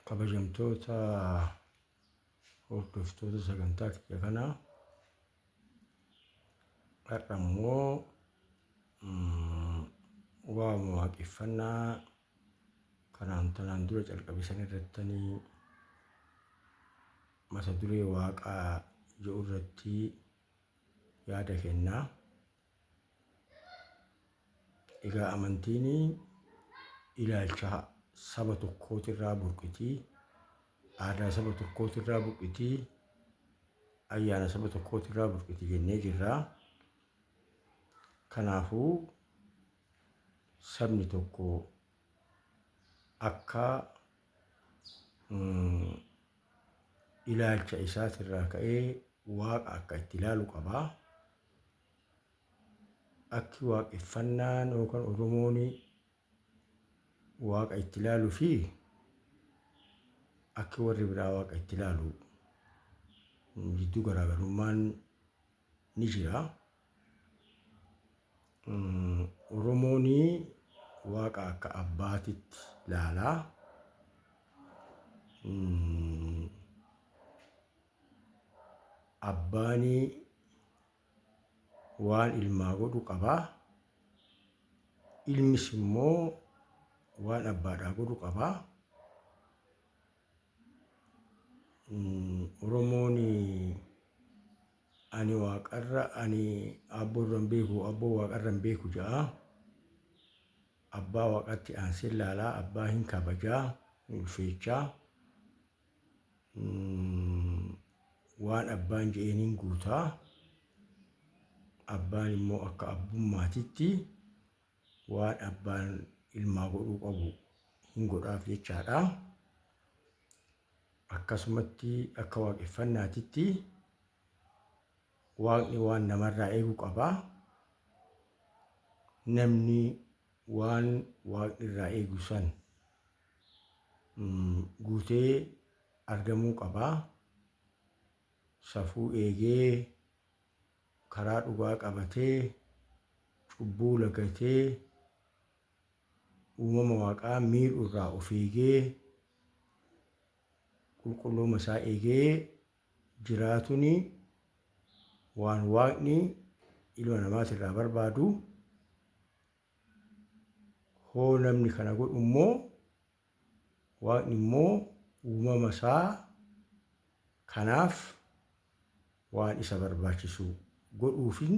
Kabajamtoota hordoftoota sagantaa kiyya kanaa har'a immoo waa'uma waaqeffannaa kanaan tanaan dura calqabe san irrattanii mata duree waaqaa jedhu irratti yaada kennaa. Egaa amantiin ilaalcha saba tokkootirraa burqitii, aadaa saba tokkootirraa burqitii, ayyaana saba tokkootirraa burqiti jennee jirra. Kanaafuu sabni tokko akka mm, ilaalcha isaatirraa ka'ee waaqa akka itti ilaalu qaba. Akki waaqeffannaan yookaan Oromoon waaqa itti ilaalu fi akki warri biraa waaqa itti ilaalu jidduu garaagarummaan ni jira. Oromoon waaqa akka abbaatitti ilaala. Abbaan waan ilmaa godhu qaba. Ilmis immoo waan abbaadhaa godhu qaba. Oromoon ani waaqarra ani aabboorra hin beeku abboo waaqarra hin beeku ja'a. Abbaa waaqatti aansee ilaalaa abbaa hin kabajaa hin ulfeechaa. Waan abbaan je'een hin guutaa. Abbaan immoo akka abbummaatitti waan abbaan ilmaa godhuu qabu hin godhaaf jechaadha. Akkasumatti akka waaqeffannaatitti waaqni waan namarraa eegu qaba. Namni waan waaqni irraa eegu san mm, guutee argamuu qaba. Safuu eegee karaa dhugaa qabatee, cubbuu lagatee, uumama Waaqaa miidhu irraa of eegee, qulqullooma isaa eegee jiraatuni waan Waaqni ilma namaati irraa barbaadu. Hoo namni kana godhu immoo Waaqni immoo uumama isaa kanaaf waan isa barbaachisu godhuufin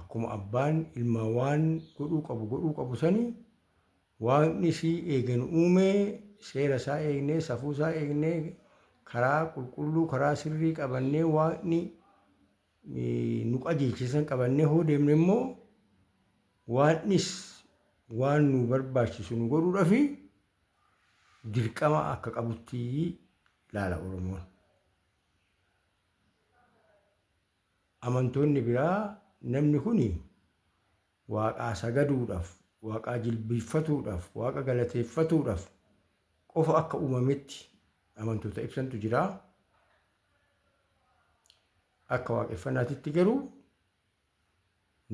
akkuma abbaan ilmaa waan godhuu qabu godhuu qabu sani waaqnis eega nu uumee seera isaa eegnee safuu isaa eegnee karaa qulqulluu karaa sirrii qabannee waaqni nu qajeelche san qabannee hoo deemne immoo waannis waan nu barbaachisu nu godhuudhafi dirqama akka qabutti laala Oromoon. Amantoonni biraa namni kuni waaqaa sagaduudhaaf, waaqaa jilbiiffatuudhaaf, waaqa galateeffatuudhaaf qofa akka uumametti amantoota ibsantu jira. Akka waaqeffanaatitti garuu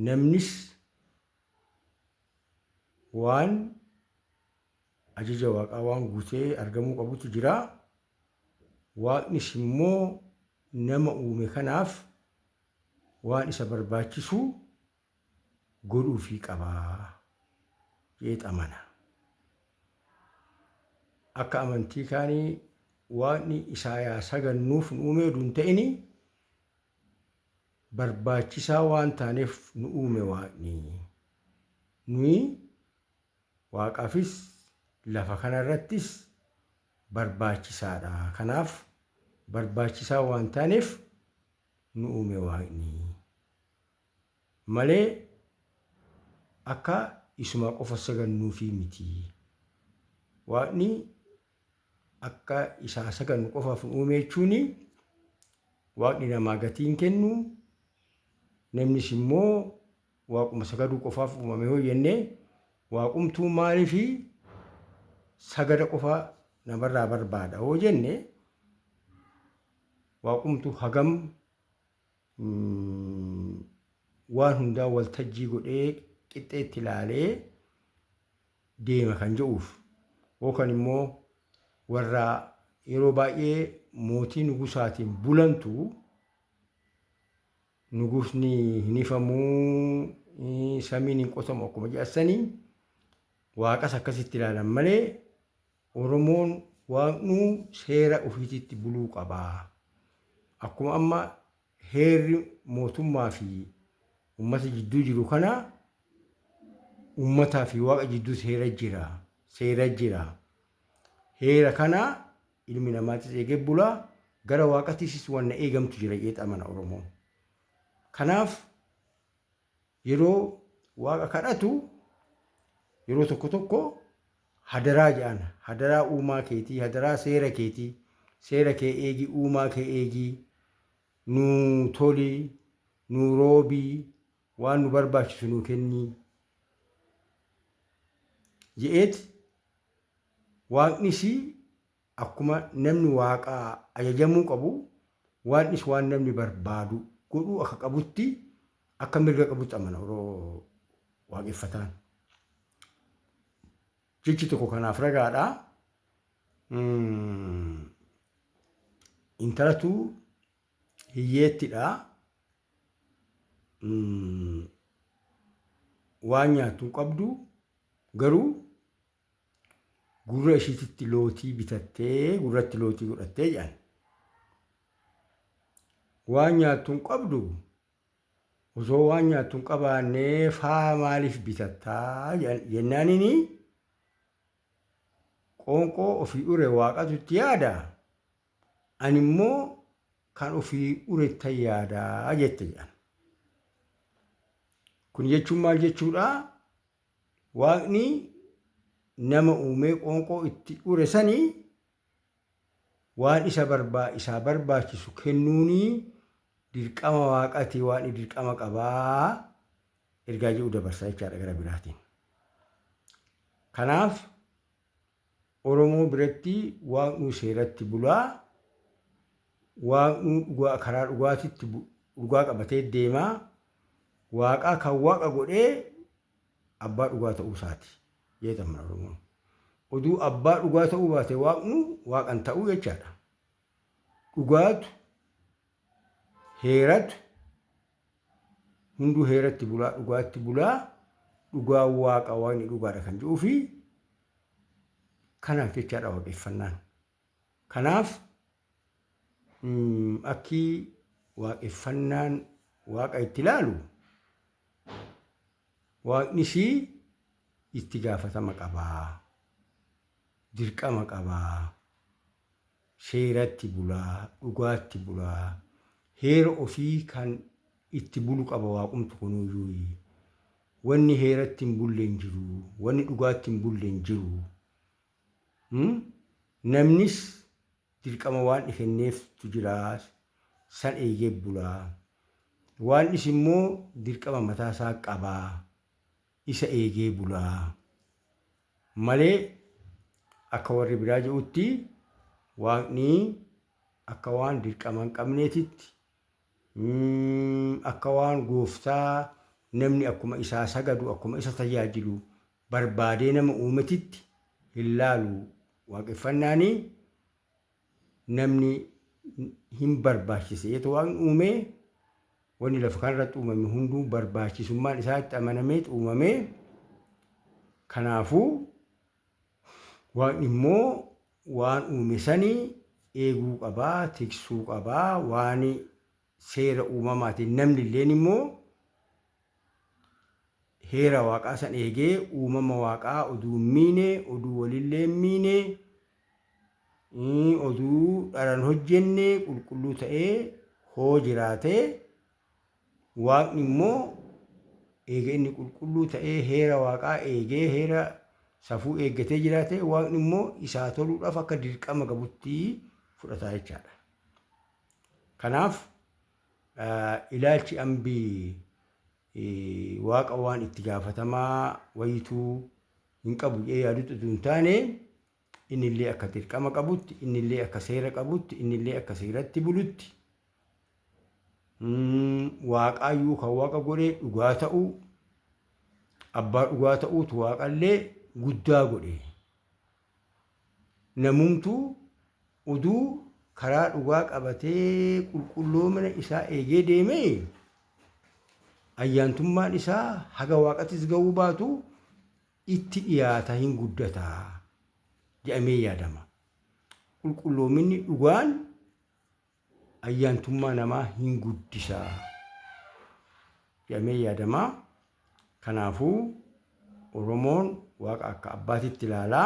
namnis waan ajaja waaqaa waan guutee argamuu qabutu jira. Waaqnis immoo nama uume kanaaf waan isa barbaachisu godhuufii qabaa jeet amana. Akka amantii kaanii waaqni isaayaa sagannuuf nu uumee oduu hin ta'ini barbaachisaa waan taaneef nu uume waaqni. Nuyi waaqaafis lafa kanarrattis barbaachisaadha. Kanaaf barbaachisaa waan taaneef nu uume waaqni. malee akka isumaa qofa sagannuufii miti. Waaqni akka isaa sagannu qofaaf nu uume jechuun waaqni namaa gatii hin kennu, namnis immoo waaquma sagaduu qofaaf uumame yoo jenne waaqumtuu maaliif sagada qofa namarraa barbaada yoo jenne waaqumtuu hagam waan hundaa waltajjii godhee qixxeetti ilaalee deema kan jedhuuf yookaan immoo warra yeroo baay'ee mootii nugusaatiin bulantu nugusni hin hifamuu samiin hin qotamu akkuma jedhassanii waaqas akkasitti ilaalan malee Oromoon waaqnuu seera ufiititti buluu qaba. Akkuma amma heerri mootummaa fi ummata jidduu jiru kana ummataa fi waaqa jidduu seera jira. Seera jira. Heera kana ilmi namaatis eegee bula. Gara waaqatiisis wanna eegamtu jira jeet amana Oromoon. Kanaaf Yeroo Waaqa kadhatu yeroo tokko tokko hadaraa jedhaan. Hadaraa uumaa keetii, hadaraa seera keetii, seera kee eegi, uumaa kee eegi, nuu toli, nuu roobi, waan nu barbaachisu nuu kenni je'eeti Waaqnisi Akkuma namni Waaqaa ajajamuu qabu, Waaqnis waan namni barbaadu godhuu akka qabutti, akka mirga qabutti amana yeroo waaqeffataan. Jechi tokko kanaaf ragaadha. Mm, Intalatu hiyyeettidha. Mm, Waan nyaattu hin qabdu garuu gurra ishiititti lootii bitattee gurratti lootii godhattee jedhan. Waan nyaattu hin qabdu osoo waan nyaattu hin qabaannee faa maaliif bitattaa jedhan- jennaanini qoonqoo ofii ure waaqatu itti yaada ani immoo kan ofii urettan yaadaa jette jedhan. Kun jechuun maal jechuudha? Waaqni nama uumee qoonqoo itti ure sani waan isa barbaa isaa barbaachisu kennuuni dirqama waaqati waaqni dirqama qabaa ergaa jedhu dabarsa jechaadha gara biraatiin. Kanaaf Oromoo biratti Waaqnuu seeratti bula. Waaqnuu dhugaa karaa dhugaatitti bu dhugaa qabatee deema. Waaqaa kan Waaqa godhee abbaa dhugaa ta'uu isaati jeet amana Oromoon. Oduu abbaa dhugaa ta'uu baate Waaqnuu Waaqa hin ta'uu jechaadha. Dhugaatu, heeratu, Hunduu heeratti bulaa dhugaatti bulaa dhugaan waaqa waaqni dhugaadha kan jedhuu fi kanaaf jechaadha waaqeffannaan. Kanaaf akki waaqeffannaan waaqa itti ilaalu waaqnis itti gaafatama qabaa dirqama qabaa. Seeratti bulaa, dhugaatti bulaa, heera ofii kan itti bulu qaba Waaqumtu kunuuyuuyi. Wanni heeratti hin bulle hin jiru, wanni dhugaatti hin bulle hin jiru. Namnis dirqama Waandhi kenneeftu jira, san eegee bula. Waandhis immoo dirqama mataa isaa qaba, isa eegee bula. malee akka warri biraa je'utti Waaqni akka waan dirqama hin qabneetitti, akka waan gooftaa namni akkuma isaa sagadu, akkuma isa tajaajilu barbaadee nama uumetitti hin laalu. Waaqeffannaani namni hin barbaachise jeetu waan uumee wanni lafa kanarratti uumame hunduu barbaachisummaan isaa itti amanameet uumamee kanaafuu waan immoo waan uume sanii eeguu qabaa tiksuu qabaa waan seera uumamaatiin namni illeen immoo Heera Waaqaa san eegee, uumama Waaqaa oduu hin miine, oduu wolillee hin miine, oduu dhara hin hojjenne, qulqulluu ta'ee hoo jiraate, Waaqni immoo eega inni qulqulluu ta'ee heera Waaqaa eegee, heera safuu eeggatee jiraate, Waaqni immoo isaa toluudhaaf akka dirqama gabutti fudhata jechaadha. Kanaaf Ilaalchi Ambi Waaqa waan itti gaafatamaa wayituu hin qabu jedhee yaadutti utuu hin taane innillee akka dirqama qabutti, innillee akka seera qabutti, innillee akka seeratti bulutti waaqaayyuu kan waaqa godhe dhugaa ta'uu abbaa dhugaa ta'uutu waaqallee guddaa godhe. Namumtuu uduu karaa dhugaa qabatee qulqulloomina isaa eegee deeme, ayyaantummaan isaa haga Waaqattis gahuu baatu itti dhiyaata hin guddata jedhamee yaadama. Qulqulloominni dhugaan ayyaantummaa namaa hin guddisa jedhamee yaadama. Kanaafuu Oromoon waaqa akka abbaatitti ilaala.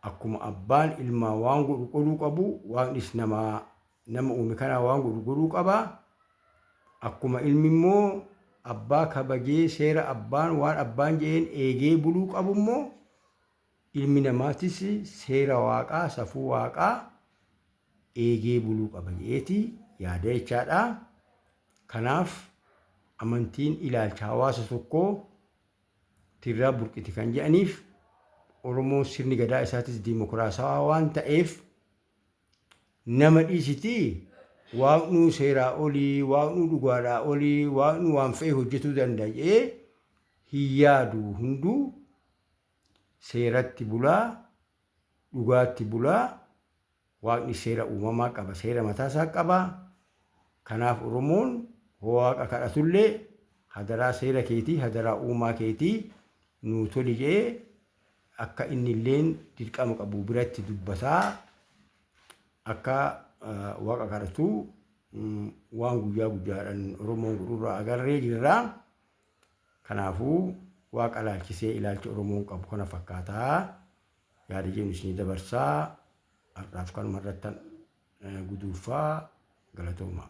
Akkuma abbaan ilmaa waan godhu godhuu qabu waaqnis namaa nama uume kanaa waan godhu godhuu qaba. Akkuma ilmi immoo abbaa kabajee seera abbaan waan abbaan jedheen eegee buluu qabu immoo Ilmi namaatis seera Waaqaa, safuu Waaqaa eegee buluu qaba jedheeti yaada jechaadha. Kanaaf amantiin ilaalcha hawaasa tokkoo tirraa burqiti kan jedhaniif Oromoon sirni gadaa isaatis diimokiraasawaa waan ta'eef nama dhiisitii waaqnuu seeraa olii, waaqnuu dhugaadhaa olii, waaqnuu waan fe'e hojjetuu danda'a jedhee hin yaadu hunduu Seeratti bulaa, dhugaatti bulaa, Waaqni seera uumamaa qaba, seera mataa isaa qaba. Kanaaf Oromoon hoo Waaqa kadhatu illee hadaraa seera keetii, hadaraa uumaa keetii nuu toli jedhee akka inni illeen dirqama qabu biratti dubbataa akka Waaqa kadhatu waan guyyaa guyyaadhaan Oromoon godhurraa agarree jirra. Kanaafuu, Waaqa ilaalchisee ilaalchi Oromoon qabu kana fakkaata. Yaada jedhun isinii dabarsa. Har'aaf kanuma irrattan guduunfa. Galatoomaa.